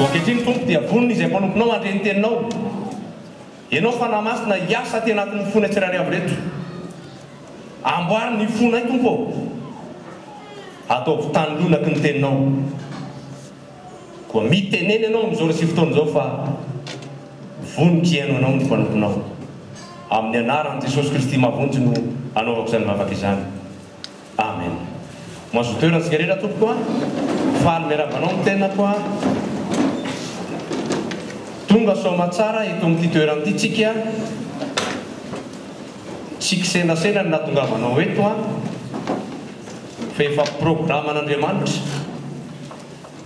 Koa ankehitriny, Tompo, dia vonona izay mpanomponao handre ny Teninao. Ianao Fanahy Masina, hiasa aty anatin'ny fonay tsirairay avy ireto. Amboary ny fonay, Tompo ô. Ataovy tany lonaky ny Teninao. Koa mitenena ianao amin'izao resy fotoana izao fa vonoky hihaino anao ny mpanomponao. Amin'ny anaran'i Jesosy Kristy mahavonjy no anaovako izany vavaka izany. Amen. Mazotoa eo rantsika rehetra tompoko a. Faly miarahaba anao ny tenako a. Tonga soamatsara eto amin'ity toerana ity tsika. Tsy kisendrasendra ny nahatongavanao eto a. Fa efa programan'Andriamanitra.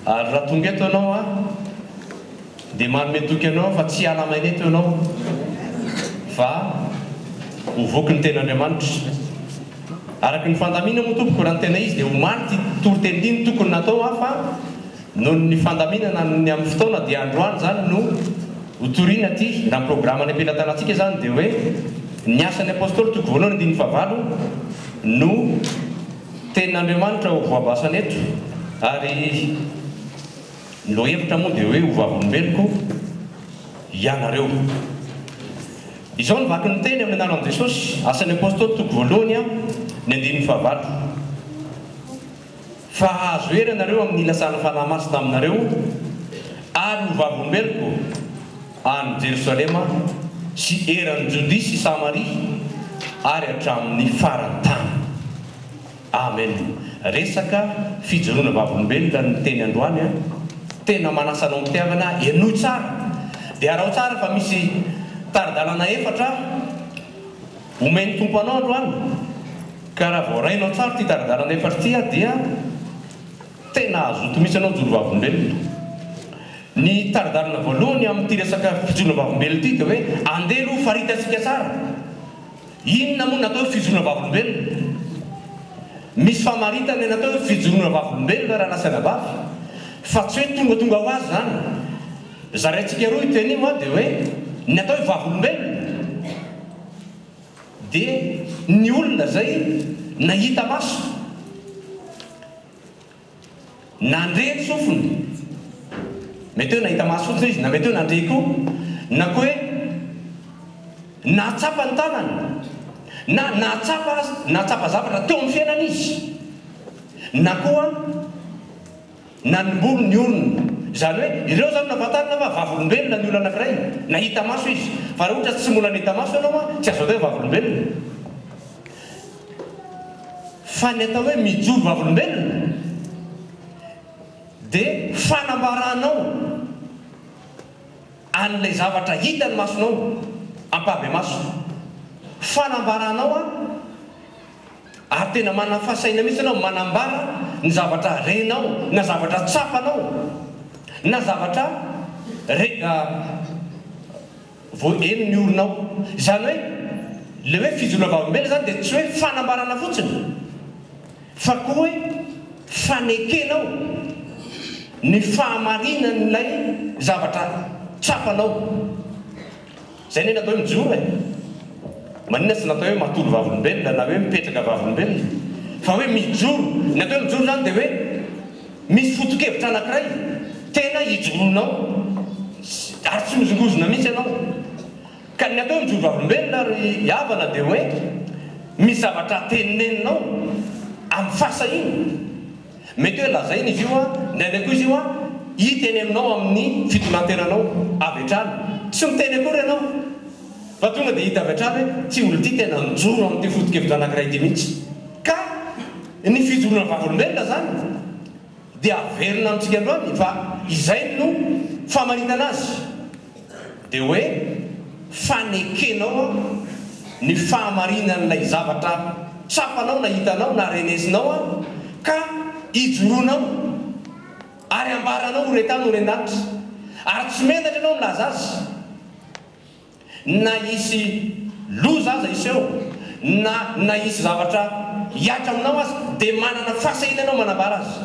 Ary raha tonga eto ianao an, dia manome toky anao aho fa tsy hiala maina eto ianao fa ho voky ny Tenin'Andriamanitra. Araka ny fandaminana moa tompoko, raha ny tena izy dia omaly ity toriteny ity no tokony natao an, fa noho ny fandaminana ny amin'ny fotoana dia androany izany no ho torina ity. Raha ny programan'ny am-pelatanantsika izany dia hoe ny Asan'ny Apostoly toko voalohany andininy fahavalo no. Tenin'Andriamanitra ho voabasana eto ary ny lohahevitra moa dia hoe ho vavolombeloko ianareo. Izao no vakin'ny teny amin'ny anaran'i Jesosy, Asan'ny Apostoly toko voalohany a, ny andininy fahavalo, Fa hahazo hery ianareo amin'ny nilasan'ny Fanahy Masina aminareo ary ho vavolombeloko. Any Jerosalema sy eran'i Jodia sy Samaria ary hatramin'ny faran'ny tany. Amen. Resaka fijoroana vavolombelona ny teny androany an. Tena manasa anao am-pitiavana aho. Henoy tsara. Dia araho tsara fa misy tari-dalana efatra omen'ny Tompo anao androany. Ka raha voarainao tsara ity tari-dalana efatra ity dia. Tena hazoto mihitsy anao mijoro vavolombelona. Ny taridalana voalohany amin'ity resaka fijoroana vavolombelona ity dia hoe andeha aloha faritantsika tsara. Inona moa no atao hoe fijoroana vavolombelona? Misy famaritana ny atao hoe fijoroana vavolombelona raha lasa anabavy fa tsy hoe tongatonga ho azy izany. Zaraintsika roa io teny io dia hoe ny atao hoe vavolombelona. Dia ny olona izay nahita maso, nandre ny sofiny, mety hoe nahita maso fotsiny izy, na mety hoe nandre koa, na koa hoe nahatsapa ny tanany, na nahatsapa aza, nahatsapa zavatra teo amin'ny fiainany izy, na koa. Nanimbolo ny orony. Izany hoe, ireo izany nahafantarina fa vavolombelona ny olona anankiray, na hita maso izy. Fa raha ohatra tsy mbola nahita maso ianao, tsy azo atao hoe vavolombelona. Fa ny atao hoe mijoro vavolombelona dia fanambaranao an'ilay zavatra hitan'ny masonao, ampahibemaso. Fanambaranao an. Ary tena manafa saina mihitsy ianao manambara ny zavatra renao na zavatra tsapanao na zavatra re vao eny ny oronao. Izany hoe ilay hoe fijoroana vavolombelona izany dia tsy hoe fanambarana fotsiny fa koa hoe fanekenao ny fahamarinan'ilay zavatra tsapanao. Izay anie natao hoe mijoro e! Maninona tsy natao hoe matory vavolombelona na hoe mipetraka vavolombelona fa hoe mijoro? Ny atao hoe mijoro izany dia hoe misy foto-kevitra anankiray tena ijoroanao ary tsy mihozongozona mihitsy ianao. Ka ny atao hoe mijoro vavolombelona ry havana dia hoe misy zavatra teneninao amin'ny fahasahiana. Mety hoe lazaina izy io an, indraindray koa izy io an, hita eny aminao amin'ny fitonantenanao avy hatrany. Tsy miteny akory ianao fa tonga dia hita avy hatrany hoe ity olona ity tena mijoro amin'ity foto-kevitra anankiray ity mihitsy. Ka ny fijoroana vavolombelona izany dia averina amintsika androany fa izay no famaritana azy. Dia hoe fanekenao ny fahamarinan'ilay zavatra tsapanao na hitanao na renesinao ka ijoroanao ary ambaranao ho re tany ho re an-danitra ary tsy menatra ianao milaza azy na hisy loza aza hiseho na na hisy zavatra hiatra aminao aza dia manana fahasahiana ianao manambara azy.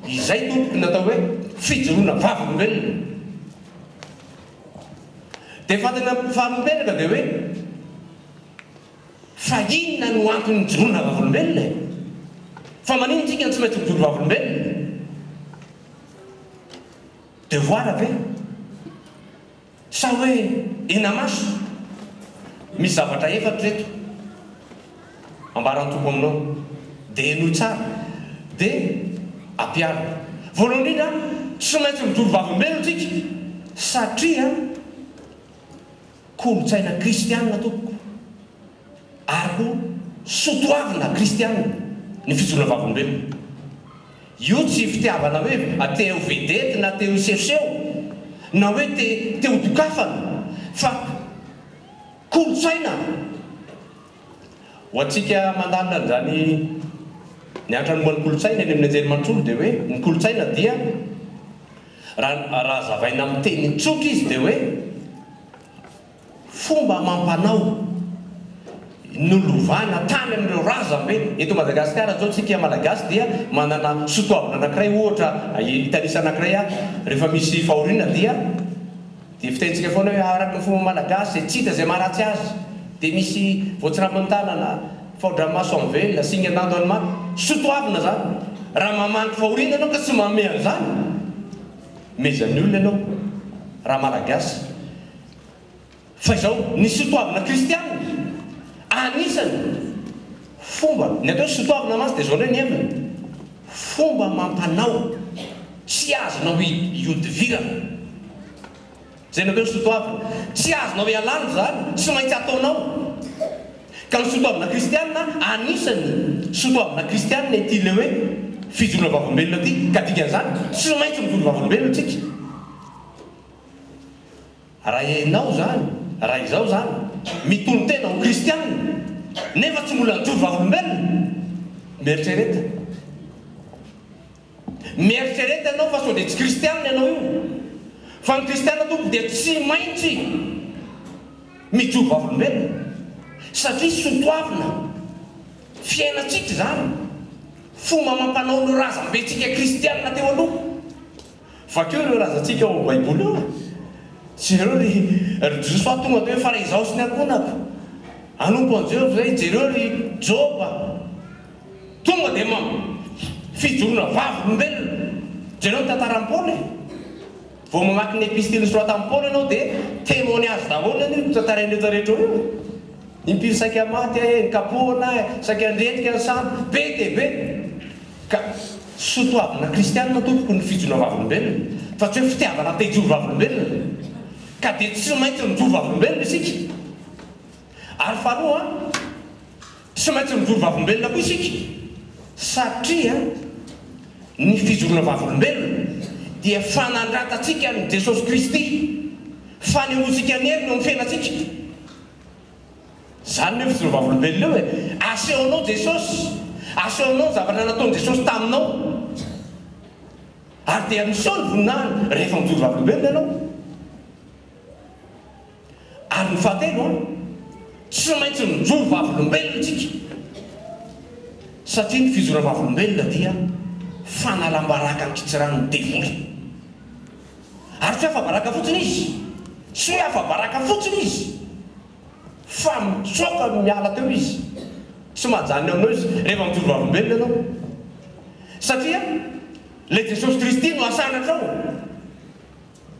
Izay tompoko no atao hoe fijoroana vavolombelona. Dia fantatra faharoa-peraka dia hoe, fa inona no antony nijoroana vavolombelona e? Fa manino isika no tsy maintsy mijoro vavolombelona? Devoir ve? Sa hoe enamaso? Misy zavatra efatra eto. Ambara ny Tompo aminao, dia henoy tsara, dia ampiharina. Voalohany indrindra, tsy maintsy mijoro vavolombelona isika, satria kolontsaina kristiana, tompoko, ary koa soatoavina kristiana ny fijoroana vavolombelona. Io tsy fitiavana hoe te ho vedety na te ho sehoseho, na hoe te te ho dokafana, fa. Kolontsaina! Ho antsika mandalina an'izany miantra ny momba ny kolontsaina eny amin'ny anjerimanontolo dia hoe ny kolontsaina dia raha raha hazavaina amin'ny teny tsotra izy dia hoe fomba amam-panao nolovana tany amin'ireo razambe. Eto Madagasikara izao tsika Malagasy dia manana sotoavina anankiray ohatra hitanisana anankiray ahy rehefa misy fahoriana dia Dia vitaintsika foana hoe araka ny fomba malagasy izay tsy hita izay maharatsy azy dia misy voatsirambin'ny tanana, faodramaso amin'ny velona, singan-dando any maty. Soatoavina izany. Raha mamangy fahoriana ianao ka tsy manome an'izany, mehezan'ny olona ianao raha malagasy. Fa izao, ny soatoavina kristiana, anisany fomba, ny atao hoe soatoavina mantsy dia izao indray ny heviny. Fomba amam-panao tsy azonao ihodivirana izay nareo ny soatoavina. Tsy azonao ialana izany, tsy maintsy ataonao. Ka ny soatoavina kristiana, anisan'ny soatoavina kristiana ity ilay hoe fijoroana vavolombelona ity, ka dikan'izany tsy maintsy mijoro vavolombelona isika. Raha ianao izany, raha izaho izany, mitonon-tena ho kristiana nefa tsy mbola nijoro vavolombelona, mieritrereta. Mieritrereta ianao fa sao dia tsy kristiana ianao io. Fa ny kristiana tompoko dia tsy maintsy mijoro vavolombelona satria sotoavina fiainantsika izany, fomba amam-panaon'ireo razambentsika kristiana teo aloha. Vakio ireo razantsika ao amin'ny Baiboly ao e! Jereo ry ry Jiosy fa tonga teo hoe fa izaho sy ny ankohonako hanompo an'i Jehovah izay, jereo ry Joba tonga dia ma fijoroana vavolombelona, jereo ny tantaran'i Paoly e! Vao mamaky ny epistily nosoratan'i Paoly ianao dia témoignage daholo anie io tantarain'ireto rehetra eo e! Impiry saika maty ahe, nikapohana ahe, saika niriatika ny sambo, be dia be! Ka soa toavina kristianina tompoko ny fijoroana vavolombelona fa tsy hoe fitiavana te hijoro vavolombelona ka dia tsy maintsy mijoro vavolombelona isika ary faharoa tsy maintsy mijoro vavolombelona koa isika satria ny fijoroana vavolombelona dia fanandratantsika an'i Jesosy Kristy, fanehoantsika ny heriny eo amin'ny fiainantsika. Izany ve fijery vavolombelona io e? Asehonao Jesosy, asehonao ny zavatra nataon'i Jesosy taminao. Ary dia miseho ny voninahiny rehefa mijoro vavolombelona ianao. Ary ny fahatelo an, tsy maintsy mijoro vavolombelona isika. Satria ny fijoroana vavolombelona dia fanalam-baraka ankitsiranin'ny devoly. Ary tsy hoe afa-baraka fotsiny izy, tsy hoe afa-baraka fotsiny izy. Fa mitsoaka no miala teo izy. Tsy mahajanona aminao izy rehefa mijoro vavolombelona ianao. Satria ilay Jesosy Kristy no asanatrao.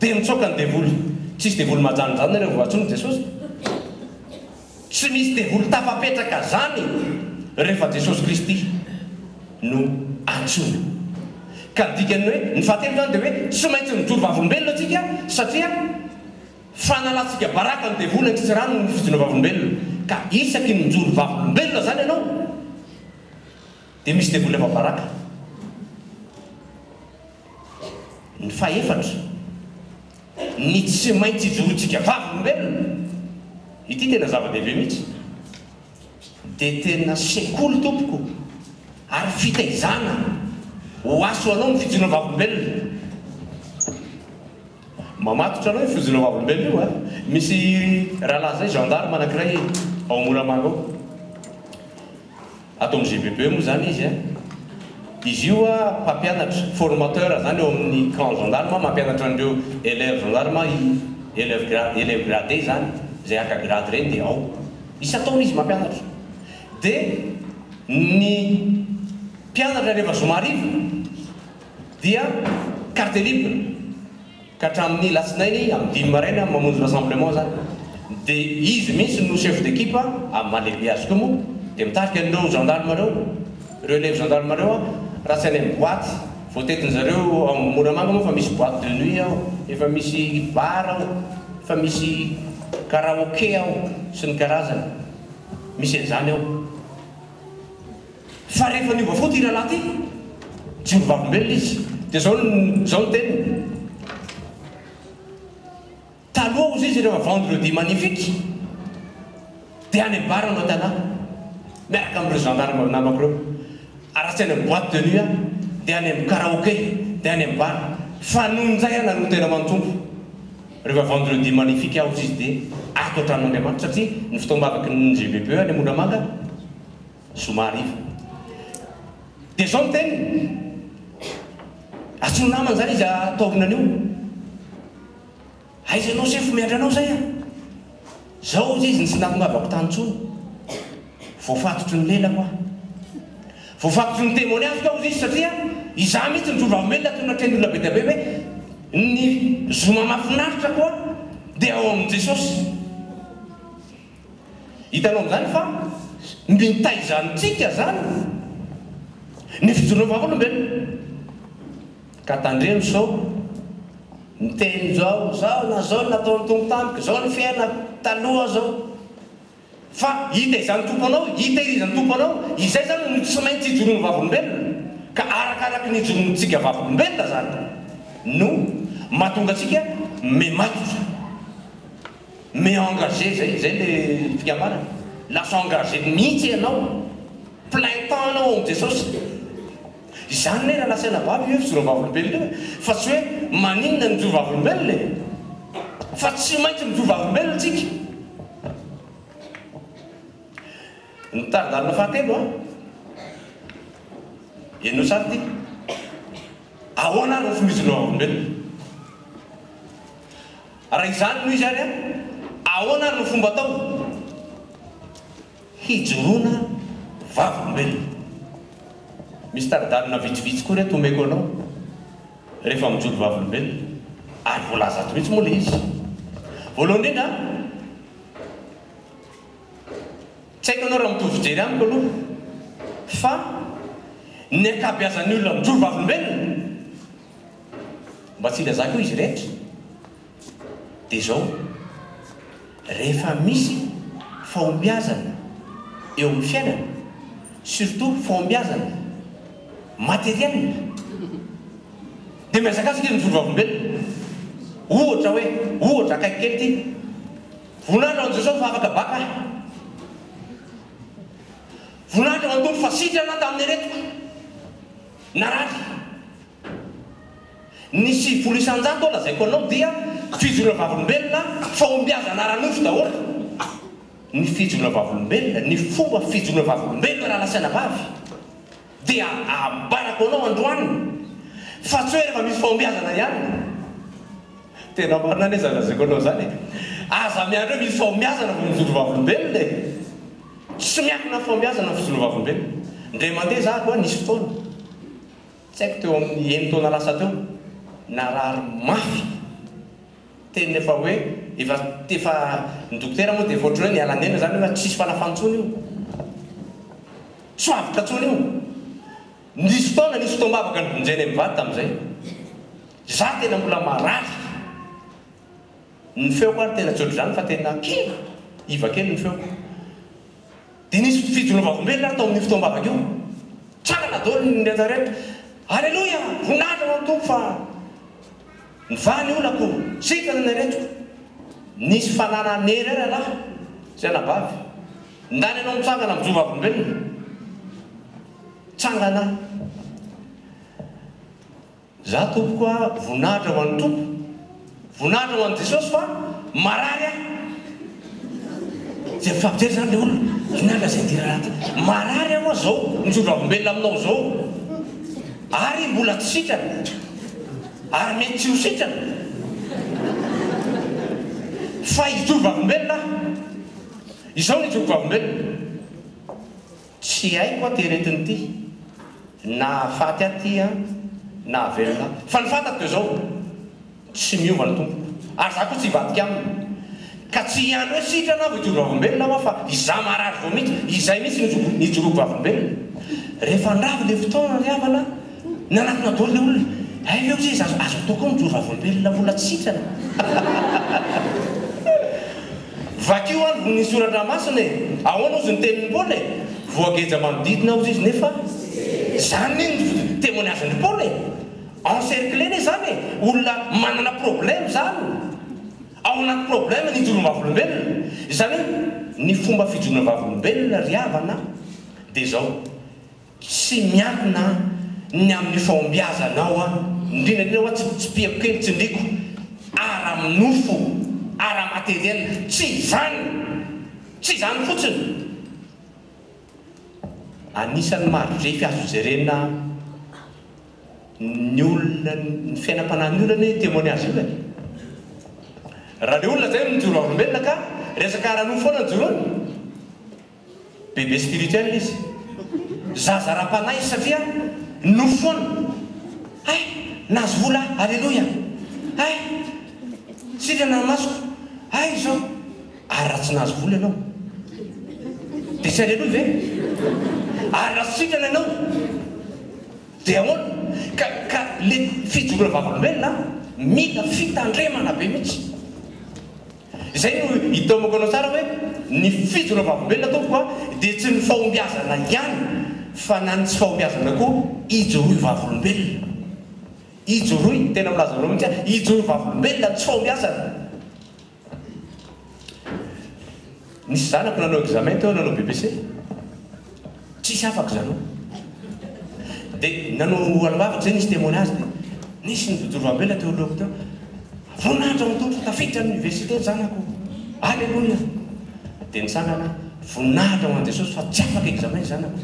Dia mitsoaka ny devoly. Tsisy devoly mahajanona izany nareo vao antsoin'i Jesosy. Tsy misy devoly tafapetraka izany rehefa Jesosy Kristy no antsoina. Ka ny dikan'ny hoe ny fahatelo izany dia hoe tsy maintsy mijoro vavolombelona isika satria. Fanalantsika baraka ny devoly an-kitsirano noho ny fijoroana vavolombelona, ka isaky ny mijoro vavolombelona izany ianao, dia misy devoly hafa baraka. Ny fahefatra, ny tsy maintsy ijoroantsika vavolombelona, ity tena zava-dehibe mihitsy, dia tena sekoly tompoko ary fitaizana ho aso ho anao ny fijoroana vavolombelona. Mamatotra anao io fojinao vavolombelona io a! Misy rahalahy zay gendarme anakiray ao Moramanga ao. Ato amin'ny GBB moa zany izy a! Izy io a mpampianatra, formateur zany ao amin'ny camp gendarme, mampianatra an'ireo elèves gendarme i elèves gra- elèves gradés zany, zay haka grade reny dia ao. Isan-taona izy mampianatra. Dia ny mpianatra rehefa zoma hariva. dia carte libre ka hatramin'ny latsinainy amin'ny dimy maraina mamonjy rassemblement zany dia izy mihitsy no chef d'equipe amin'ny maha lehibe azy koa moa dia mitarika an'ireo gendarme ireo ireo elève gendarme ireo an raha tsy any amin'ny boite voatetin'ny zareo ao Moramanga moa efa misy boite de nuit ao efa misy bar ao efa misy karaoke ao sy ny karazany misy an'izany ao Fa rehefa niova fo ity rahalahy ity, tsy ho vavolombelona izy. Dia izao no, izao no teniny, Taloha hozy izy rehefa vendredi magnifique, dia any amin'ny bar manao tanà, miaraka amin'ireo gendarmes namako ireo, ary raha tsy any amin'ny boite de nuit aho, dia any amin'ny karaoke, dia any amin'ny bar. Fa nony indray aho nanolo tena ho an'ny Tompo, rehefa vendredi magnifique hozy izy dia ato an-tranon'Andriamanitra, satria ny fotoam-bavaky ny GBPE any Amondramanga, Zoma hariva. Dia izao ny teniny, Asio namana izany izy ataorina an'io. Aiza ianao sefo miandry anao izay an! Izao hoy izy ny tsy nahatongavako tany intsony. Voafatotry ny lelako aho. Voafatotry ny demoniakiko aho hoy izy satria izaho mihitsy no solovavenona toy ny natrehin'ny olona be dia be hoe ny zoma mahafinaritra koa dia ao amin'i Jesosy. Hitanao amin'izany fa mitaiza antsika izany ny fijoroan'ny vavolombelona. Ka tandremo sao ny teny izao, izao na izao no nataon'ny Tompo tamiko, izao ny fiainako, taloha izao. Fa hitaizan'ny Tompo anao, hitehirizan'ny Tompo anao, izay izany no tsy maintsy ijoroan'ny vavolombelona. Ka arakaraky ny ijoroantsika vavolombelona izany no mahatonga antsika mematotra. Mais engagé zay, zay le fikambanana? Lasa engagé mihitsy ianao, plein temps anao ao amin'i Jesosy. Izany ne raha nasaina babo io fijoroan'ny vavolombelona io e, fa tsy hoe maninona ny mijoro vavolombelona e, fa tsy maintsy mijoro vavolombelona tsika. Ny tari-dalana fahatelo an! Henoy sary ity. Ahoana ary ny fomba hijoroana vavolombelona? Raha izany no izy ary ahoana ary no fomba atao hijoroana vavolombelona? Misy tari-dalana vitsivitsy koa ry reto omeko anao rehefa mijoro vavolombelona ary voalaza ato mihitsy moa ilay izy. Voalohany indrindra an, tsy haiko ianao raha mitovy fijery amiko aloha fa ny ankabeazan'ny olona mijoro vavolombelona Mba tsy ilazako eo izy rehetra dia izao, rehefa misy fahombiazana eo amin'ny fiainana, surtout fahombiazana matériel, dia mihazakazaka izy mijoro vavolombelona. Ohatra hoe, ohatra, akaiky kely ity, voninahitra ho an'i Jesosy fa afaka baka aho. Voninahitra ho an'ny Tompo fa sitrana aho tamin'ny aretiko narary. Ny sivifolo isan-jato lazaiko anao dia fijoroana vavolombelona fahombiazana ara-nofo daholo ny fijoroana vavolombelona, ny fomba fijoroana vavolombelona rahalahy sy anabavy. Dia abarako anao androany fa tsy hoe rehefa misy fahombiazana ihany. Tena marina anie izany lazaiko anao izany e. Aza miandry hoe misy fahombiazana vao mijoro vavolombelona e. Tsy miankina amin'ny fahombiazana ny fijoroana vavolombelona. Indray mandeha zahako an, nisy fotoana. Tsy haiko teo amin'ny eny taona lasa teo, narary mafy, teny efa hoe efa efa ny dokotera moa dia efa ohatran'ny hoe niala niaina izany hoe efa tsisy fanafany intsony io, tsy ho avotra intsony io. Nisy fotoana nisy fotoam-bavaka nivonjenay mivady tamin'izay, izaho tena mbola marary. Ny feoko ary tena tsy ohatr'izany fa tena kivy, iva kely ny feoko. Dia nisy fijoroana vavolombelona ary tao amin'io fotoam-bavaka io. Tsangana daholo ny rehetra rehetra. Aleloia! Voninahitra ho an'ny Tompo fa nivaha ny olako, sitrana ny aretina. Nisy fanahy nanery ahy rahalahy sy anabavy. Ndany ianao mitsangana mijoro vavolombelona. Tsangana aho. Za tompoko a voninahitra ho an'ny Tompo voninahitra ho an'i Jesosy fa marary aho zay mifampijery zany le olona inona lazain'i ty rahalahy ty marary aho a zao mijoro ravombelona aminao zao ary mbola tsy sitrana ary mety tsy ho sitrana fa hijoro vavombelona aho izao ny hijoroko vavombelona Tsy haiko aty aretina ity na faty aho ty an na velona aho fa ny fantako dia izao tsy miova ny tompoko ary za koa tsy hivadika aminy ka tsy hiany hoe sitrana aho vao hijoro vavolombelona hoa fa izaho marary vao mihitsy izay mihitsy no hijoroako vavolombelona rehefa andravy le fotoana ry havana Nanakona daholo le olona. Hay ve ozy izy azo atao koa mijoro vavolombelona vola tsy sitrana. Vakio alo vony ny soratra masina e! Ahoana ozy ny tenin'i Paoly e! Voageja manodidina ozy izy nefa Zany ne ny temoignazin'i Paoly e! Encercler ne zany e! Olona manana problème zany ao anaty problème ny hijoro vavolombelona. Izany hoe ny fomba fijoroana vavolombelona ry havana dia zao. Tsy miankina ny amin'ny fahombiazanao aho, indrindra indrindra hoa tsy tsipihako kely, tsindriko ara-nofo, ara-materiel. Tsy izany! Tsy izany fotsiny! Anisan'ny maha-refy azo jerena ny olona, ny fiainam-panahin'ny olona anie io témoignage io e! Raha le olona zay mijoro aolombelona ka resaka ara-nofo foana ny joroany, Bebe spirituel izy. Zaza ara-panahy izy satria nofy foana. Hay! Nahazo vola aho. Aleloia! Hay! Sitrana ny masoko. Hay izao. Ary raha tsy nahazo vola ianao? Dia tsy aleloia ve? Ary raha tsy sitrana ianao? Dia ahoana? Ka, ka ilay fijoroam-bavolombelona mila fitandremana be mihitsy. Izay no itaomako anao tsara hoe ny fijo na vavolombelona tompoko a dia tsy ny fahombiazana ihany fa na ny tsy fahombiazana koa ijoroy vavolombelona. Ijoroy, tena milaza aminao mihitsy aho, ijoroy vavolombelona ny tsy fahombiazana. Nisy zanako nanao examen teo nanao BPC tsisy afaka zanao de nanao alohavako zay nisy temoin azy de nisy nijojoro ambela teo alohako teo voninahitra ho an'Tompo tafiditra ny université ny zanako aleloia de nitsangana voninahitra ho an'i Jesosy fa tsy afaka examen ny zanako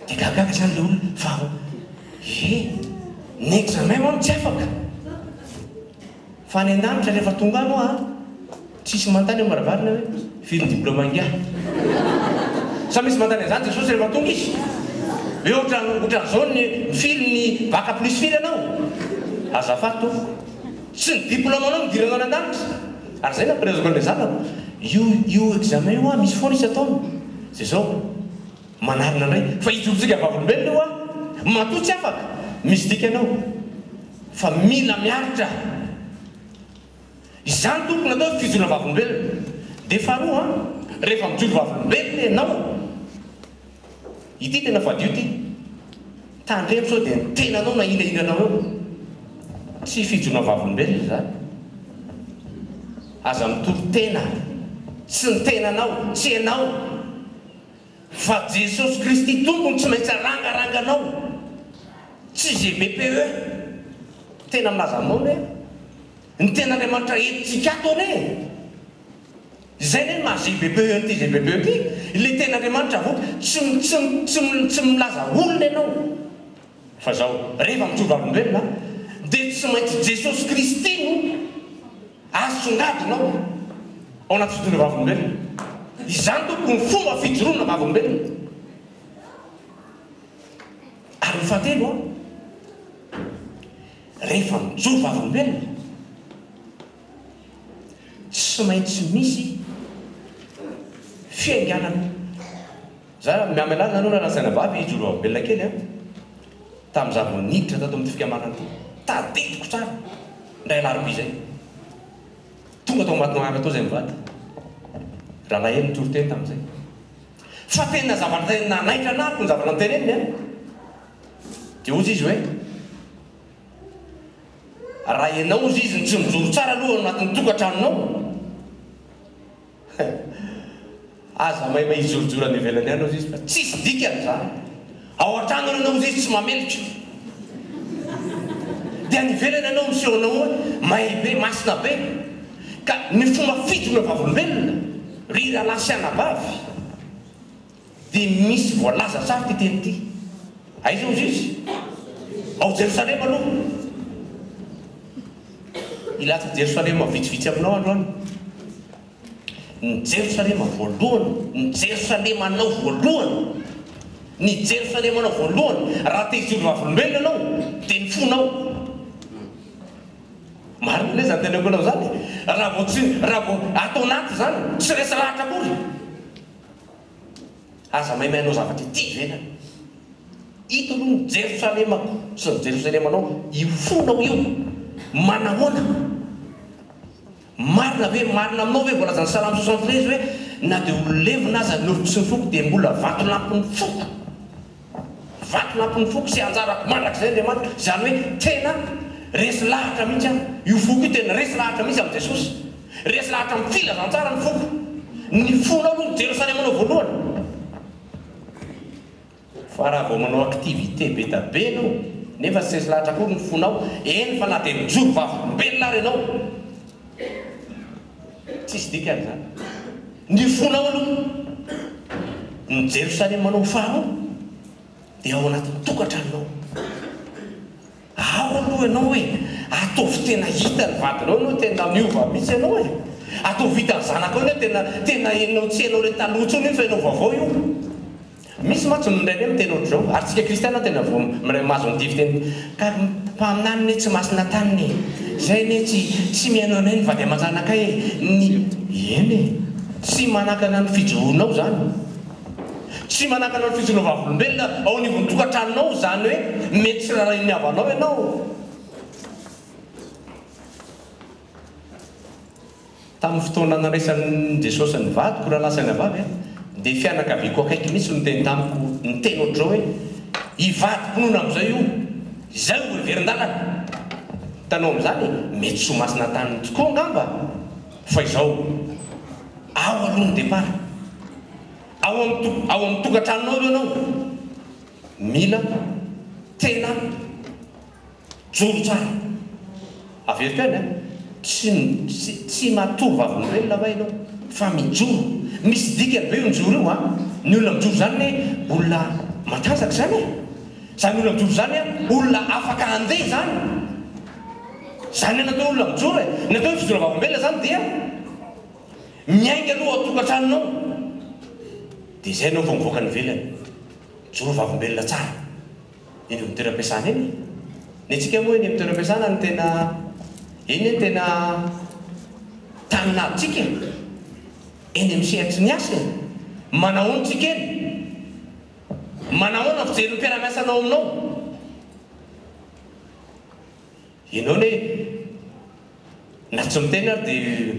de gagaga zany le olona fa e ny examen hono tsy afaka Fa any an-danitra rehefa tonga any hoa a! Tsisy mantany amin'ny varavarana hoe, firy ny diplaoma ingahy? Sa misy mantany an'izany Jesosy rehefa tonga Izy? Ve ohatran ohatran'izao ny firy ny bac plus firy ianao? Azafady tompoko. Tsy ny diplaomanao no idiranao any an-danitra. Ary izay no ampielezako an'ilay zanako, io io examen io hoa misy foana isan-taona. Dia izao. Manarina indray fa ijorotsika vavolombelona io an! Matoa tsy afaka, misy dikany ao fa mila miaritra. Izany tokony atao ny fijoroana vavolombelona. Dia faharoa an, rehefa mijoro vavolombelona ianao, ity tena fadio ity, tandremo sao dia ny tenanao na hira hiranao eo. Tsy fijoroana vavolombelona izany. Aza mitory tena, tsy ny tenanao, tsy ianao. Fa Jesosy Kristy Tompo no tsy maintsy arangaranganao, tsy GBPE. Tena milaza aminao anie ny Tenin'Andriamanitra entintsika ato anie e! Izay anie no maha GBPE an'ity GBPE ity, ilay Tenin'Andriamanitra avoaka, tsy, tsy, tsy, tsy milaza olona ianao. Fa zao, rehefa mijoro olombelona dia tsy maintsy Jesosy Kristy no asongadinao ao anaty fijoroana vavolombelona. Izany tompoko no fomba fijoroana vavolombelona. Ary ny fahatelo an, rehefa mijoro vavolombelona tsy maintsy misy fiainganana. Za miamela anareo raha lazaina vavy hijoro eo ambelona kely an! Tamin'ny za vao niditra tato amin'ity fikambanana ity, tadidiko tsara, indray alarobia izay, tonga tao Matongarana tao izay mivady, rahalahy hely nitory teny tamin'izay, fa tena zavatra tena nanaitra anah aloha ny zavatra noteneniny an! Dia hozy izy hoe, raha ianao hozy izy no tsy mijoro tsara aloha ao anatin'ny tokantranonao, Hay! Aza maimay hijorojoro any ivelany any Ozzy fa tsisy dikany zany. Ao antrano ary anao Ozzy tsy mamelotro. Dia any ivelany anao miseho anao hoe may be, masina be. Ka ny fomba fijoroana vavolombelona ry rahalahy sy anabavy. Dia misy voalaza tsara ity teny ity. Aiza hozy izy? Ao Jerosalema aloha. Hilatsaka Jerosalema vitsivitsy aminao androany. Ny Jerosalema voalohany, ny Jerosalemanao voalohany, ny Jerosalemanao voalohany, raha te hijoro vavolombelona ianao, dia ny fonao. Marina ve izany teneniko anao izany? Raha vao tsy, raha vao ato anaty izany, tsy resy lahatra akory. Aza maimay anao zavatra ity ivelany. Ito aloha ny Jerosalemako sy ny Jerosalemanao, io fonao io. Manahoana? Marina ve, marina aminao ve voalazan'ny Salamo soixante treize hoe, Na dia ho levona aza ny nofoko sy ny foko dia mbola vatolampin'ny foko? Vaky lampin'ny foko sy anjarako mandrakizay Andriamanitra, izany hoe tena resy lahatra mihitsy aho, io foko io tena resy lahatra mihitsy amin'i Jesosy, resy lahatra amin'ny filazantsara ny foko, ny fonao aloha ny Jerosalemanao voalohany, fa raha vao manao activité be da be ianao nefa tsy resy lahatra akory ny fonao, eny fa na dia nijoro vavolombelona ary ianao, Tsisy dikany izany. Ny fonao aloha no Jerosalemanao faharoa dia ao anatin'ny tokantranonao. Ao aloha ianao e! Ataovy tena hitan'ny vadinao ianao tena miova mihitsy ianao e! Ataovy hitan'ny zanakao ianao tena tena henonao tsy hainao ilay taloha intsony io fa ianao vaovao io. Misy mantsy miray hoe miteny ohatr'izao, ary tsika kristiana tena vao miray mahazo an'ity fiteny ka mpaminany ne tsy masina taniny e! zay ne tsy tsy mihaino anay ny vady aman-janakay e! ny eny e! tsy manakana ny fijoroanao zany, tsy manakana ny fijoroanao vavolombelona ao anivon'ny tokantranonao izany hoe mety tsy rarahian'ny havanao ianao. Tamin'ny fotoana nandraisan'i Jesosy ny vadiko raha lasa ny vavy, dia fianakaviako akaiky mihitsy no niteny tamiko niteny ohatr'izao hoe, I vadiko nony amin'izay io, izay no heverin-dalana. Hitanao amin'izany, mety soa masina taminy tokoa angamba fa izao, Ao aloha ny départ. Ao amin'ny ao amin'ny tokantranonao eo ianao. Mila tena. Joro tsara. Averiko any an! Tsy tsy tsy matory vavolombelona va ianao fa mijoro. Misy dikany ve io mijoro io an! Ny olona mijoro izany anie olona matanjaka izany e! Izany olona mijoro izany an, olona afaka handeha izany. Izany an natao olona mijoro e! Ny atao hoe fijoroana vavolombelona izany dia miainga aloha ao an-tokantranonao dia izay ianao vao mivoaka any ivelany. Mijoro vavolombelona tsara. eny amin'ny toeram-piasana eny e! Ny antsika moa eny amin'ny toeram-piasana no tena, eny anie tena tany nahatrika e! Eny amin'ny sehatry ny asa e! Manahoana isika eny? Manahoana ny fijerin'ny mpiara-miasa anao aminao? Ianao ne na tsy miteny ary dia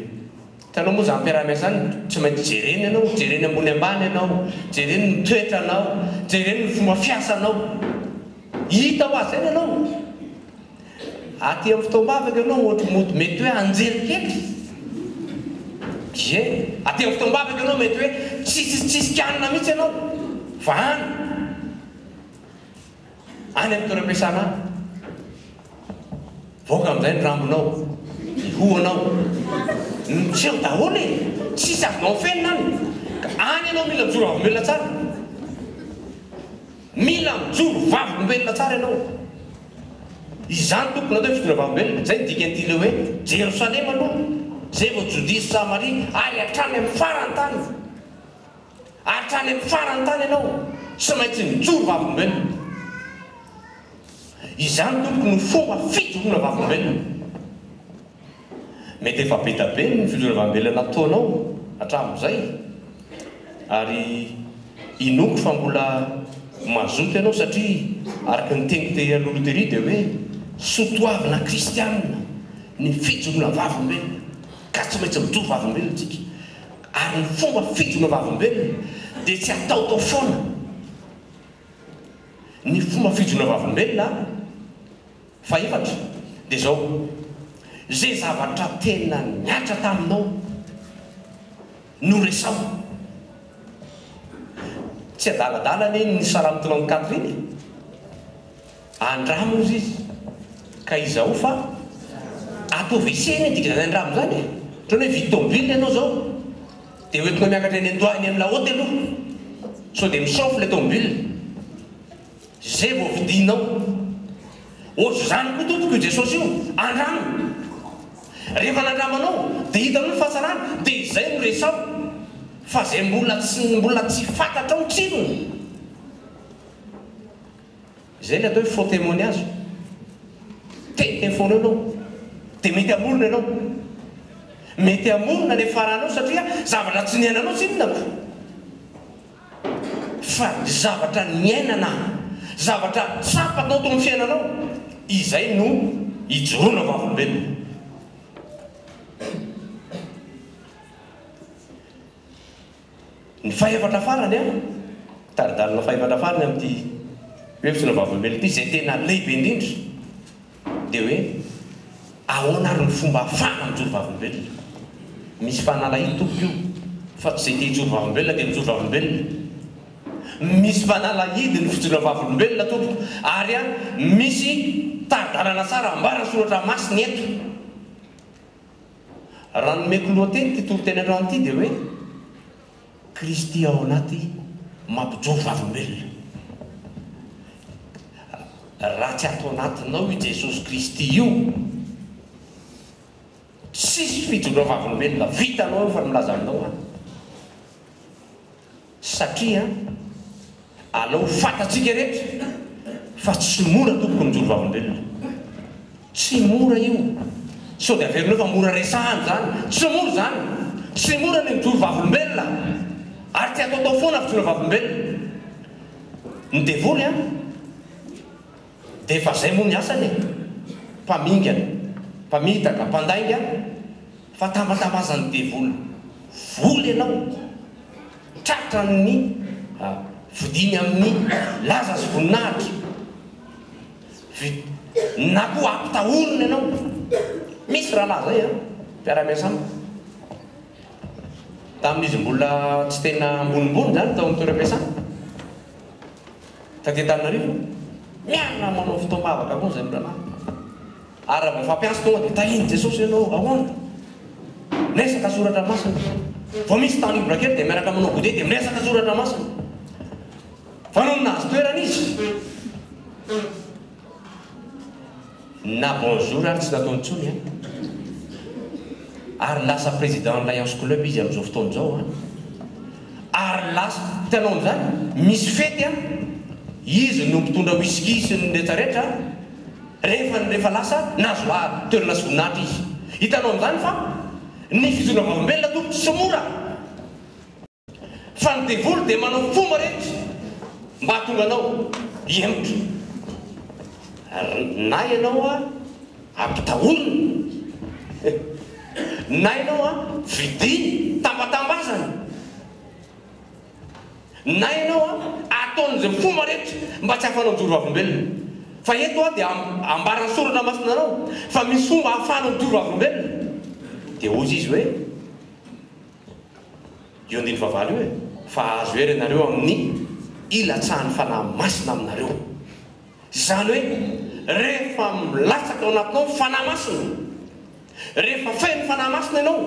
hitanao moa izany mpiaraha-miasa izany tsy maintsy jereny ianao, jereny ambony ambany ianao, jereny ny toetranao, jereny ny fomba fiasanao. Hita ho azy izay ny anao. Aty amin'ny fotoam-bavaka ianao ohatry mody mety hoe anjely kely. Ie, aty amin'ny fotoam-bavaka ianao mety hoe tsisy tsisy kianina mihitsy ianao fa any. Any amin'ny toeram-piasana any. Mivoaka amin'izay ny rambonao, ny hohonao. Nitsiry daholo e! Tsisy azonao afenina any. Ka any ianao mila mijoro vavolombelona tsara. Mila mijoro vavolombelona tsara ianao. Izany Tompo no atao hoe fijoroana vavolombelona. Izay no dikan'ity le hoe Jerosalema aloha, izay vao Jodia sy Samaria, ary hatrany amin'ny faran-tany. Hatrany amin'ny farany tany ianao tsy maintsy nijoro vavolombelona. Izany tompoko no fomba fijoroana vavolombelona. Mety efa be dia be ny fijoroana vavolombelona nataonao hatramin'izay ary inoako fa mbola mazoto ianao satria araka ny teny tery aloha aloha tery dia hoe soa toavina kristiana ny fijoroana vavolombelona ka tsy maintsy mijoro vavolombelona isika. Ary ny fomba fidina vavolombelona dia tsy ataotao foana. Ny fomba fidina vavolombelona fahefatra dia izao, Izay zavatra tena nihatra taminao no resaho. Tsy adaladala anie ny salamo tolan'i Catherine e! Andramo ozy izy ka izao fa ato WC anie dika zany andramo zany e! Otrany hoe hividy tômôbily ianao zao de ho entinao miakatra eny an-toa eny amin'ny la haute aloha sao de mi-chauffe le tômôbily ze vao vidinao. Ozy zany koa tompoko io Jesosy io, andramo! Rehefa nandramo anao de hitanao ny fahatsarany de izay no resaho fa ze mbola tsy mbola tsy fantatrao ny tsirony. Izay ny atao hoe faux témoignage. Te info-nao ianao, dia mety hamorona ianao. Mety hamorona ilay faranao satria zavatra tsy niainanao tsy inona moa fa zavatra niainana, zavatra tsapa tao tamin'ny fiainanao, izay no ijoroana ho vavolombelona. Ny fahefatra farany an! Tari-dalana fahefatra farany amin'ity hoe fisoronana vavolombelona ity izay tena lehibe indrindra dia hoe ahoana ary ny fomba afahana mijoro vavolombelona. Misy fanalahidy tompoko io fa tsy izay te hijoro vavolombelona dia mijoro vavolombelona. Misy fanalahidy ny fijoroana vavolombelona tompoko ary an misy tari-dalana tsara ambaran'ny soratra masina eto. Raha nomeko lohateny ity toriteny androany ity dia hoe, Kristy ao anaty mampijoro vavolombelona. Raha tsy ato anatinao i Jesosy Kristy io, tsisy fijoroam-vavolombelona vitanao io fa ny milaza aminao aho. Satria aleo ho fantatsika rehetra fa tsy mora tompoko mijoro vavolombelona. Tsy mora io. Sao dia averinao fa mora resahana izany. Tsy mora izany. Tsy mora ny mijoro vavolombelona. Ary tsy ataotao foana ny fijoroana vavolombelona. Ny devoly an. Dia efa izay moa ny asany e! Mpamingana, mpamitaka, mpandainga, fatambatambazan'ny devoly vola ianao, tratra amin'ny fodiany amin'ny laza sy voninahitra, na koa ampitahoriny ianao, misy rahalahy izay an, mpiara-miasa amiko, tamin'izy mbola tsy tena ambonimbony izany tao amin'ny toeram-piasana. Taty Antananarivo, miara manao fotoam-bavaka foana izay olona maro. Ary raha vao fampiasa tonga dia tahin'i Jesosy ianao, ahoana? Miresaka soratra masina. Vao misy temps libre kely dia miaraka manao goûter dia miresaka soratra masina. Fa nony nahazo toerana izy, Na bonjour ary tsy nataony intsony an! Ary lasa président ny Lions Club izy amin'izao fotoana izao an! Ary lasa, hitanao an'izany? Misy fety an! Izy no mpitondra whisky sy ny rehetra rehetra an! Rehefa ny rehefa lasa, nahazo laha toerana sy voninahitra izy. Hitanao an'izany fa ny fitondrana vavolombelona tompoko tsy mora! Fa ny devoly dia manao fomba rehetra mba hahatonga anao hihemotra. Na ianao ampitahoriny, na ianao vidiny tambatambazana, na ianao ataony izay fomba rehetra mba tsy hahafanao mijoro vavolombelona. Fa eto dia ambaran'ny soratra masina anao fa misy fomba ahafahanao mijoro vavolombelona. Dia hoy izy hoe. Io andininy fahavalo io e! Fa hahazo hery ianareo amin'ny hilatsahan'ny Fanahy Masina aminareo. Izany hoe, rehefa milatsaka ao anatinao ny Fanahy Masina, rehefa feno Fanahy Masina ianao,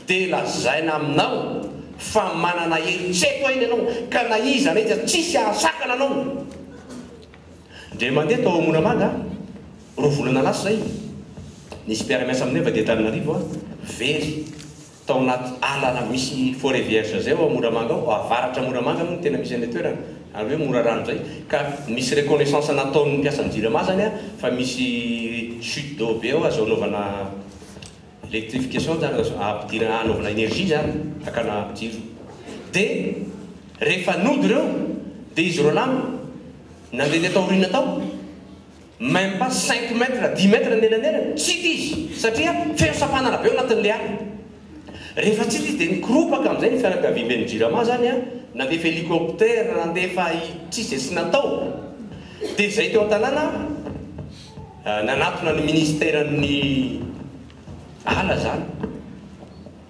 dia lazaina aminao fa manana hery tsy haiko aina ianao, ka na iza na iza tsisy hahasakana anao. Ndre mandeha tao Moramanga aho, Roa volana lasa izay, nisy mpiara-miasa aminay avy aty Antananarivo very tao anaty ala misy forêt vierge izay ao Moramanga ao, avaratra Moramanga moa no tena misy an'ilay toerana, ary hoe Morarano izay, ka misy reconnaissance nataon'ny mpiasan'ny Jirama izany fa misy chute d'eau be ao, azo anaovana electrification izany, azo ampidirana, anaovana énergie izany, hakana jiro. Dia rehefa nody ireo, dia izy roalahy no nandeha taty aoriana tao, Même pas cinq mètres, dix mètres ny elanelany, tsy hita izy satria feno sampanana be ao anatin'ilay ala. Rehefa tsy hita izy dia nikoropaka amin'izay ny fianakaviamben'ny Jirama izany an, nandefa hélicoptère, nandefa i, tsy izay tsy natao. Dia izay teo an-tanàna nanatona ny ministeran'ny ala izany,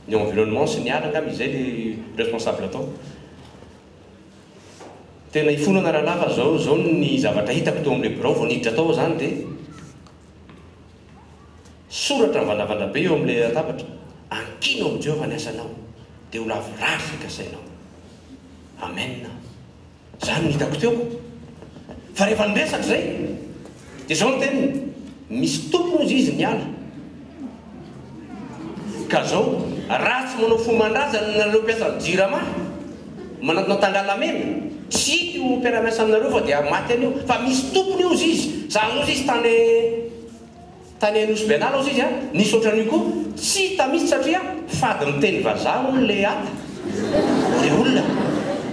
ny environnement sy ny ala angamba izay ilay responsable tao. Tena ifonana rahalahy fa zao zao ny zavatra hitako teo amin'ilay birao vao niditra tao aho zany dia soratra mivandravandra be eo amin'ilay latabatra, ankino amin'i Jehovah ny asanao dia ho lavorary izay kasainao. Amen! Izany no hitako teo. Fa rehefa niresaka izay. Dia izao ny teniny, Misy tompony hozy izy ny ala. Ka izao, raha tsy manao fo aman-draza ny anareo mpiasan'ny Jirama, manantona tangalamena, tsy hita io mpiara-miasa aminareo fa dia maty anio. Fa misy tompony hozy izy. Za hozy izy tany tany Anosy Benala hozy izy an, nisy ohatran'io koa. Tsy hita mihitsy satria fady miteny vazaha hono le ala. Ilay olona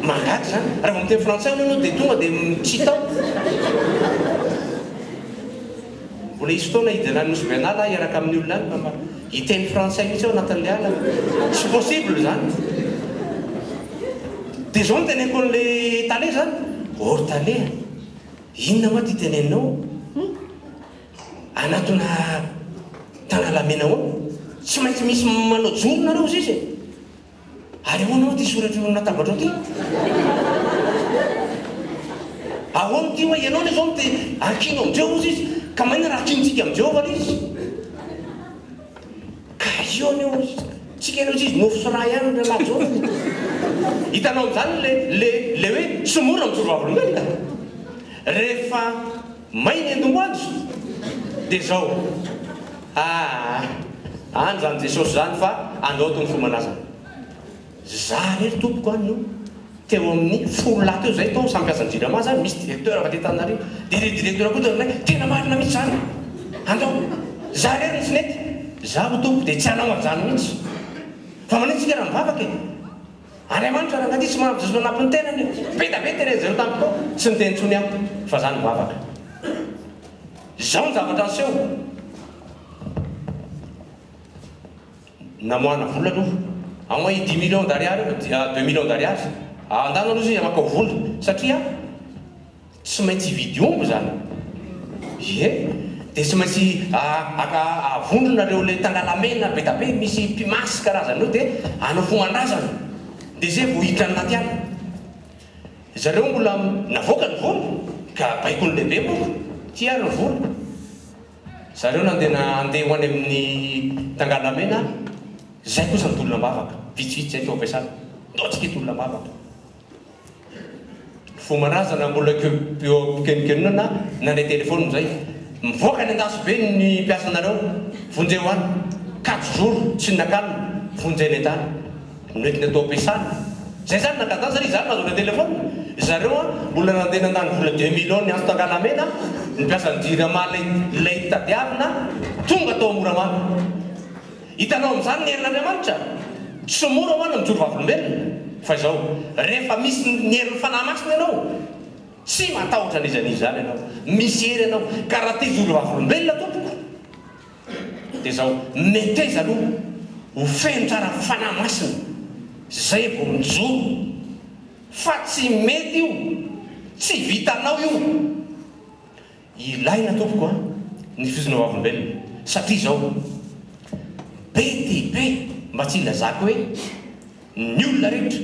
mangaga izany, raha vao miteny frantsay hono ianao dia tonga dia mitsitao. Mbola hisy fotoana hijanan'ny Nosy Bernal aho hiaraka amin'ny olona any fa hiteny frantsay mihitsy aho anatin'ilay alina. Tsy possible izany. Dia izao no teneniko an'ilay tale izany, Ô ry tale a! Inona moa ity teneninao? Anatona Tanalamena ao tsy maintsy misy manao jono nareo ry sisa e! Ary ahoana hoa ty soratr'io amin'ny latabatrao ty? Ahoana ty hoa ianao anie zao no te hankino amin'i Jehovah ry sisa? Ka maninona raha hakinintsika amin'i Jehovah ry izy? Ka io anie hoa tsika anie ry sisa nofy sy ra ihany ry rahalahy John e! Hitanao amin'izany le le le hoe tsy mora mijoro vavolombelona rehefa May ny andohanjy de zao aah any zany Jesosy zany fa anao tony fomanaza za rery tompoko any io teo aminy folo lahy teo zay tao samy mpiasa jirama zany misy directeur avy aty Antananarivo de le directeur koa teo aminay tena marina mitsy zany andao za rery no tsy nety za ho tompoko de tsy anao anzany mitsy fa manino tsika raha mivavaka e. Andriamanitra raha nanitsy maha mizizona anampy ny tenany be da be terezin ny tamiko aho tsy niteny intsony aho fa za nivavaka izao ny zavatra niseho namoahana vola aloha aho i dix millions d'ariary io dia deux millions d'ariary andana aloha izy amakao vola satria Tsy maintsy hividy omby izany. Ie, dia tsy maintsy avondrona ireo ilay tangalamena bedabe misy pimasy karazana io dia hanao fomandrazana. Dia izay vao hiditra anaty ala. Zareo mbola navoaka ny vola ka baikoin'ny lehibe moa ity ary ny vola. Zareo nandena handeha ho any amin'ny tangalamena izay kosa ny tolona am-bavaka. Vitsivitsy izay no ampiasana. Ndoantsika ity tolona am-bavaka. Fomba razana mbola eo am-pikenokenonana na le telephone zay. Mivoaka any andasobe ny mpiasanareo, vonjeo any, kajo zoro, tsinakanina, vonjena entana. Noentina tao am-piasana. Zay zany nangatahana satria za nahazo le telephone. Zareo an, mbola nandeha nandany vola deux mille any Asto Angalamena, ny mpiasan'ny jirama lay tadiavina, tonga tao Moramanga. Hitanao amin'izany ny herin'Andriamanitra? Tsy mora ho'a ny mijoro vavolombelona. Fa izao, rehefa misy ny herin'ny Fanahy Masina ianao, tsy matahotra an'iza n'iza izany ianao. Misy hery ianao. Ka raha te hijoro vavolombelona tompoko, dia izao, meteza aloha ho feno tsara Fanahy Masina, izay vao mijoro. Fa tsy mety io. Tsy vitanao io. Ilaina tompoko an ny fizona vavolombelona satria izao be dia be mba tsy ilazako hoe ny olona rehetra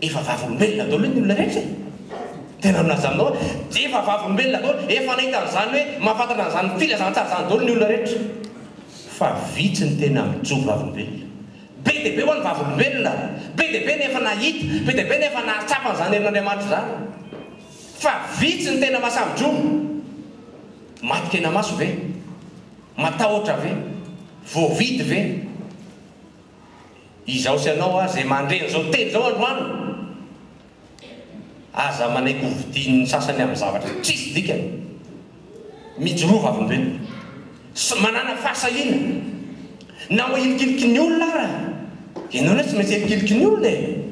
efa vavolombelona daholo hoe ny olona rehetra e! tena milaza aminao aho dia efa vavolombelona daholo efa nahita an'izany hoe mahafantatra an'izany filazantsara izany daholo ny olona rehetra fa vitsy ny tena mijoro vavolombelona be dia be ho'a ny vavolombelona be dia be ny efa nahita be dia be ny efa nahatsapa an'izany herin'Andriamanitra izany Fa vitsy ny tena mahasavi-dromo. Maty kenamaso ve? Matahotra ve? Voavidy ve? Izaho sy ianao aza izay mandre an'izao teny izao androany, aza manaiky ho vidian'ny sasany amin'ny zavatra tsisy dikany. Mijoroa vavolombelona sy manàna fahasahiana. Na ho ilikiliky ny olona ara, ianao anie tsy maintsy ilikiliky ny olona e!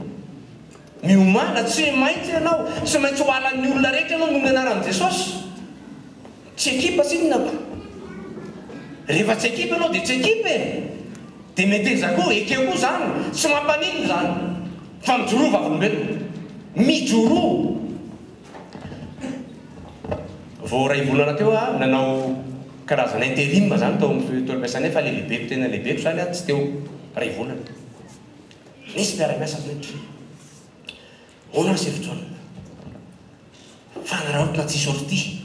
Miomàna, tsy maintsy ianao, tsy maintsy ho halan'ny olona rehetra ianao noho ny anaran'i Jesosy. Tsy ekipa tsinona ko. Rehefa tsy ekipa ianao dia tsy ekipa e! Dia meteza koa, ekeo koa izany, tsy mampaninona izany. Fa mijoroa vavolombelona. Mijoroa! Vao iray volana teo aho nanao karazana interim izany tao amin'ny toeram-piasana, efa le lehibeko tena lehibeko izany aho tsy teo iray volana. Nisy mpiara-miasa miditra Hono ry Chef John fa hanaraotina tsy sortie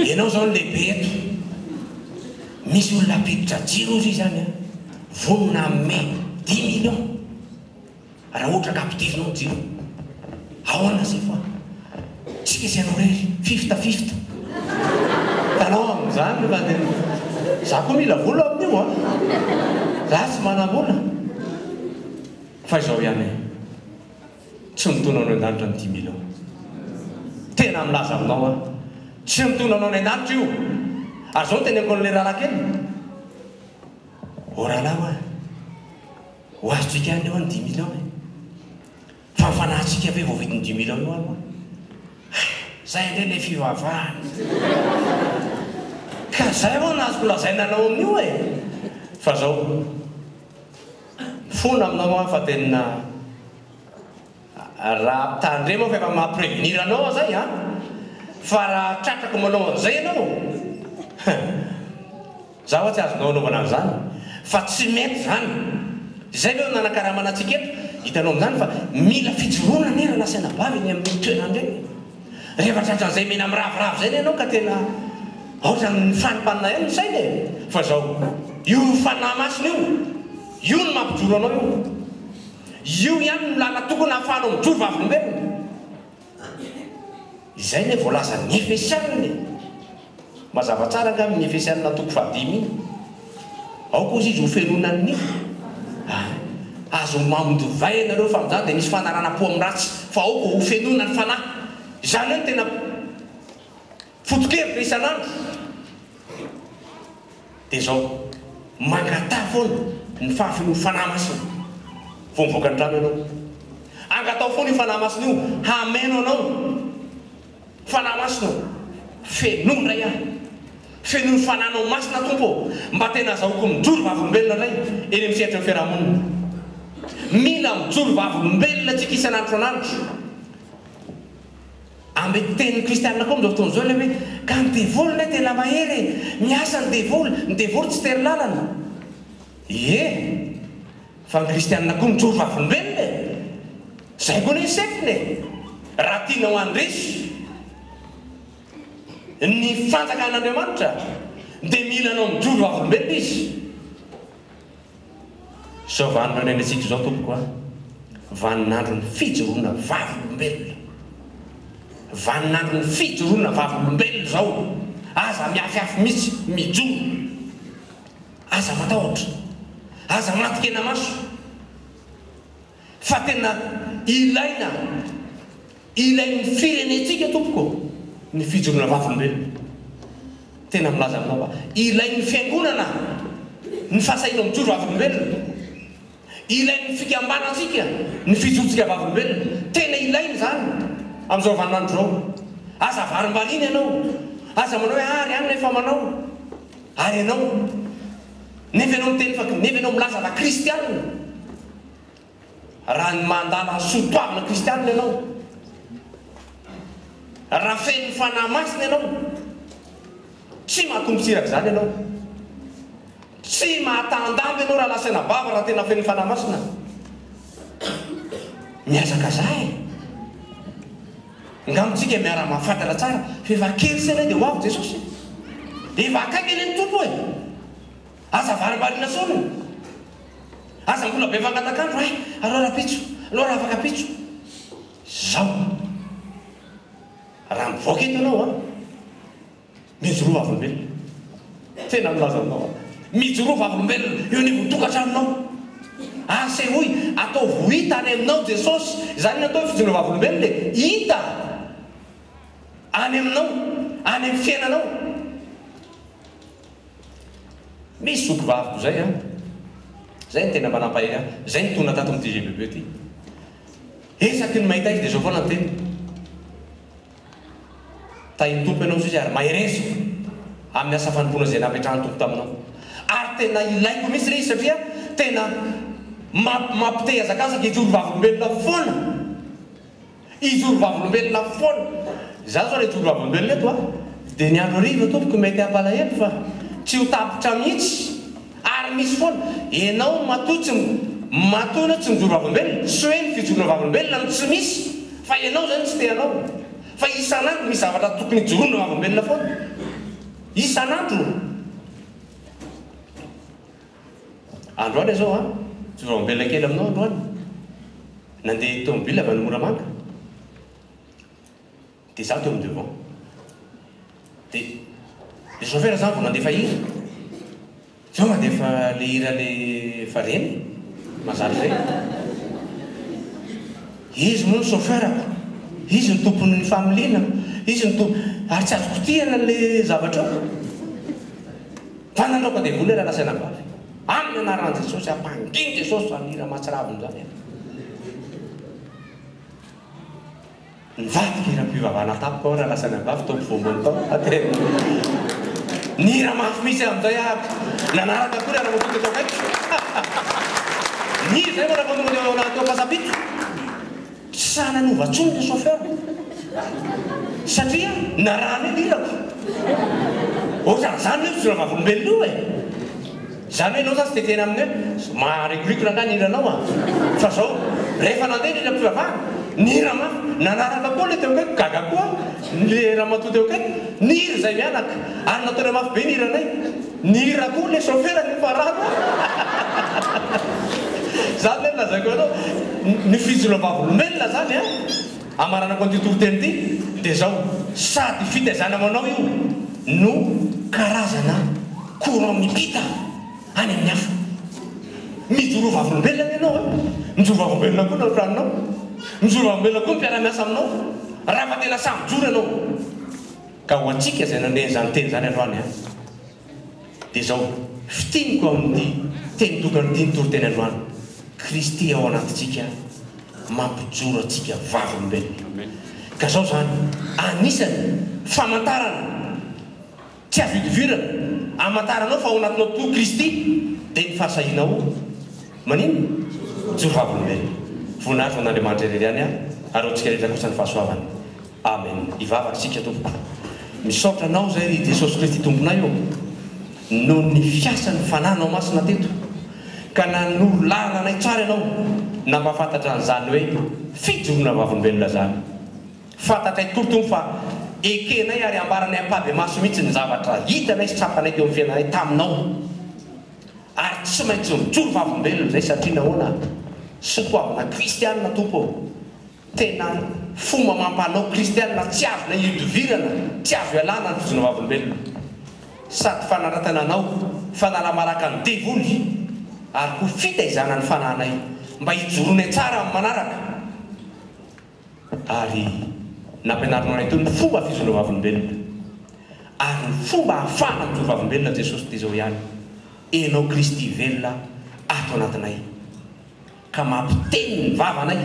Ianao izao no lehibe eto Misy olona hampiditra jiro hoy ry izany a Vonona hanome dix millions Raha ohatra ka ampidirinao jiro ahoana zay fa tsy misy anao irery fifth fifth itanao amin'izany io na dia za koa mila vola amin'io an! za tsy manam-bola fa izao ihany e! tsy mitono anao an-danitra ny dimy mille io tena milaza aminao aho tsy mitono anao any an-danitra io ary zao noteneniko an'ilay rahalahy kely ô rahalahy o! Ho azontsika any eo ny dimy millions e! Fa ny fanahintsika ve vao vita ny dimy millions io any moa? Hay! Zay indray ilay fivavahana! Ka zay hono no azoko lazaina anao amin'io e! Fa zao, mifona aminao aho fa tena. Raha tandremo aho fa efa maha prevenir anao aho zay an! Fa raha tratrako manao an'izay ianao hein! Za hoa tsy azonao anaovana an'izany fa tsy mety zany! Izay ve no nanakaramana antsika eto? Hitanao amin'izany fa mila fijoroana anie Ranasena-bavy eny amin'ireny toerana ireny! Rehefa tratran'izay mena miraviravy izay anie ianao ka tena ohatran'ny mifanimpanina ihany ny saina e! Fa izao, io fanahy masina io, io no mampijoro anao io! Io ihany no làlana tokony hahafahanao mijoro vavolombelona. Izay anie voalazan'ny Efesianina e! Mazava tsara angamba iny Efesianina toko fahadimy iny? Aoka ozy izy ho fenonan'ny Amen. Aza homamo divay ianareo fa amin'izany dia misy fanarahanam-po amin'ny ratsy, fa aoka ho fenonan'ny Fanahy. Izany hoe ny tena. Foto-kevitra isan'andro dia izao, mangataha foana ny fahafonoan'ny Fanahy Masina vao mivoaka ny trano ianao. Angataho foana io Fanahy Masina io hameno anao. Fanahy Masina ô, fenoy indray aho. Fenoy ny Fananao Masina Tompo ô, mba tena azahoako mijoro vavolombelona indray eny amin'ny sehatry ny fiarahamonina. Mila mijoro vavolombelona isika isan'andro isan'andro. Amin'ny teny kristianina koa amin'izao fotoana izao ilay hoe, ka ny devoly indray tena mahery e! Miasa ny devoly, ny devoly tsy tery lalana. Ie, fa ny kristianina koa mijoro vavolombelona e! Izay koa anie ny sefony e! Raha tianao handresy ny fanjakan'Andriamanitra dia mila anao mijoro vavolombelona izy. Izao vanin'ireo nenentsika izao tompoko a! Vanin'andron'ny fijoroana vavolombelona! Vanin'andron'ny fijoroana vavolombelona izao! Aza mihafihafy mihitsy, mijoro! Aza matahotra! Aza maty kenamaso! Fa tena ilaina, ilain'ny firenentsika tompoko ny fijoroana vavolombelona. Tena milaza aminao fa ilain'ny fiangonana ny fahasahiana mijoro vavolombelona. Ilain'ny fikambanantsika ny fijorotsika vavolombelona. Tena ilaina izany amin'izao vaninandro izao. Aza varimbariana ianao, aza manao hoe ary any ilay efa manao. Ary ianao, nefa ianao miteny fa, nefa ianao milaza fa kristiana. Raha ny mandala ny soa toavina kristianina ianao, raha feno ny Fanahy Masina ianao, tsy mahatombo tsy iraka izany ianao. Tsy mahatahan-damba ianao raha lasa anabavy raha tena feno ny Fanahy Masina. Mihazakazaha e! Angamba tsika miara-mahafantatra tsara fa efa kely se ilay dia ho avy Jesosy e! Efa akaiky anie ny Tompo e! Aza varimbariana foana. Aza mbola be mangatak'andro hay. Alao rapitso. Alao raha afaka pitso. Izao an. Raha mivoaka eto ianao an. Mijoroa vavolombelona. Tena milaza aminao an. Mijoroa vavolombelona eo anivon'ny tokantranonao. Asehoy, ataovy ho hita any aminao Jesosy. Izany no atao hoe fijoroana vavolombelona e. Hita any aminao. Any amin'ny fiainanao. Misy zoky vaviko zay an! Zay ny tena mba nampahery ahy, zay nitondra tato amin'ity GBB ty. Esaky ny mahita izy dia zao foana ny teniko, Tahin'ny Tompo ianao Zozy ary mahereziko amin'ny asa fanompoana izay napetrahan'ny Tompo taminao. Ary tena ilaiko mihitsy re izy satria tena mampitehazakazaka ijoro vavolombelona foana. Hijoro vavolombelona foana. Izaho izao ilay hijoro vavolombelona eto a! Dia ny andro hariva tompoko mety hampalahelo fa tsy ho tapitra mihitsy. Ary misy foana. Ianao matoa tsy matoa ianao tsy mijoro vavolombelona, tsy hoe ny fijoroana vavolombelona no tsy misy fa ianao izay no tsy te hanao. Fa isan'andro misy zavatra tokony hijoroana vavolombelona foana. Isan'andro. Androany izao an! Tsodrao ambela kely aminao androany, nandeha tomobile avy any Moramanga, dia za teo amin'ny devant, dia le chauffeur zany vao nandefa hira, zao mandefa le hira le efa reny, mazary reny, izy moa ny chauffeur-ko, izy no tompon'ny familiana, izy no tompo, ary tsy azo kitihana le zavatra eo. Fa nanao ka devoly raha nasaina vavy. Aminy anaran jesosy ampangin jesosy zany hira mahatsiravina zany e. Nivadika hiram pivavahana tampoka aho raha nasaina vavy tao mpivoamboan'ny taona fa tena nihira mafy mihitsy aho amin'izay ary nanaraka koa ny anamako teto akaikiko. Nihira izay manavao tonga teo anaty teo am pasapiko. Tsy sahy nanova intsony ilay chauffeur satria narary ny lilako. Ohatran'izany io fijoroana vavolombelona io e! Izany hoe ianao izany tsy dia tena amin'ny hoe maharikoriko rangahy ny hiranao an! Fa izao, rehefa nandeha ny hiram-pivavahana, nihira mafy, nanaraka koa ilay teo akaikiko, gaga koa ilay ramatoa teo akaikiko, nihira izahay mianaka, ary nataonay mafy be ny hiranay. Nihira koa le chauffeur ny parano Zany ve no lazaiko anao Ny fijoroan'ny vavolombelona zany an Amaranako an'ity toriteny ity dia zao Sady fitaizana ho anao io no karazana courant mipita any amin'ny hafa Mijoroa vavolombelona anie ianao an Mijoro vavolombelona koa ny ao tranonao Mijoro vavolombelona koa ny mpiara-miasa aminao Raha efa tena sahy mijoro ianao. Ka ho antsika izay nanome an'izany teny izany androany an, dia izao fitiniko amin'ny teny tokana ity nitoriteny androany, Kristy ao anatintsika mampijoro antsika vavolombelona. Ka izao izany anisany famantarana tsy azo idivirana amantaranao fa ao anatinao tokoa Kristy, dia ny fahasahianao manino? Mijoro vavolombelona. Voninahitra ho an'Andriamanitra irery ihany ary ho antsika rehetra kosa ny fahasoavany. Amen hivavaka isika tompoko. Misaotra anao izay ry Jesosy Kristy Tomponay ô, noho ny fiasan'ny Fananao Masina teto, ka nanoro lalana anay tsara Ianao, nampahafantatra an'izany hoe fijoroana vavolombelona izany. Fantatray tokoa ry Tompo fa ekenay ary ambaranay ampahibemaso mihitsy ny zavatra hitanay sy tsapanay teo amin'ny fiainanay taminao, ary tsy maintsy mijoro vavolombelona izay satria nahoana? Soatoavina kristianina Tompo ô. Tena fomba amam-panao kristiana tsy azona ihodivirana, tsy azo ialana ny fizona vavolombelona. Sady fanaratana anao, fanala-baraka ny devoly, ary koa fitaizana ny fanahinay mba hijoroanay tsara amin'ny manaraka. Ary nampianarinao anay teo ny fomba fizona vavolombelona. Ary ny fomba ahafahana mijoro vavolombelona Jesosy dia izao ihany, Enao Kristy velona ato anatinay. Ka mampiteny ny vavanay,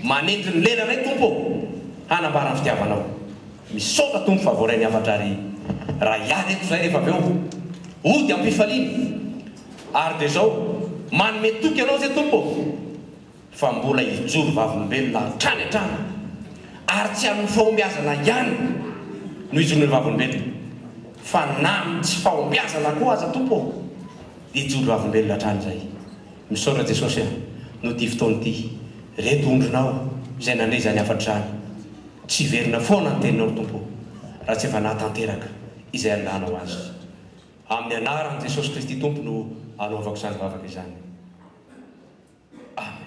manenjy ny lelanay Tompo ô, hanambara ny fitiavanao. Misaotra Tompo fa voaray ny hafatra ary raha hiala eto izahay rehefa avy eo, hody am-pifaliana. Ary dia izao, manome toky Ianao izay Tompo ô, fa mbola hijoro vavolombelona hatrany hatrany, ary tsy amin'ny fahombiazana ihany no hijoroanay vavolombelona, fa na amin'ny tsy fahombiazana koa aza Tompo ô, dia hijoro vavolombelona hatrany izahay. Misaotra Jesosy a! Noho ty fotoana ty. Reto ondrinao izay nandre izany hafatra izany. Tsy hiverina foana ny teninao ry Tompo o! Raha tsy efa nahatanteraka izay andahanao azy. Amin'ny anaran'i Jesosy Kristy Tompo no anaovako izany vavaka izany. Amen.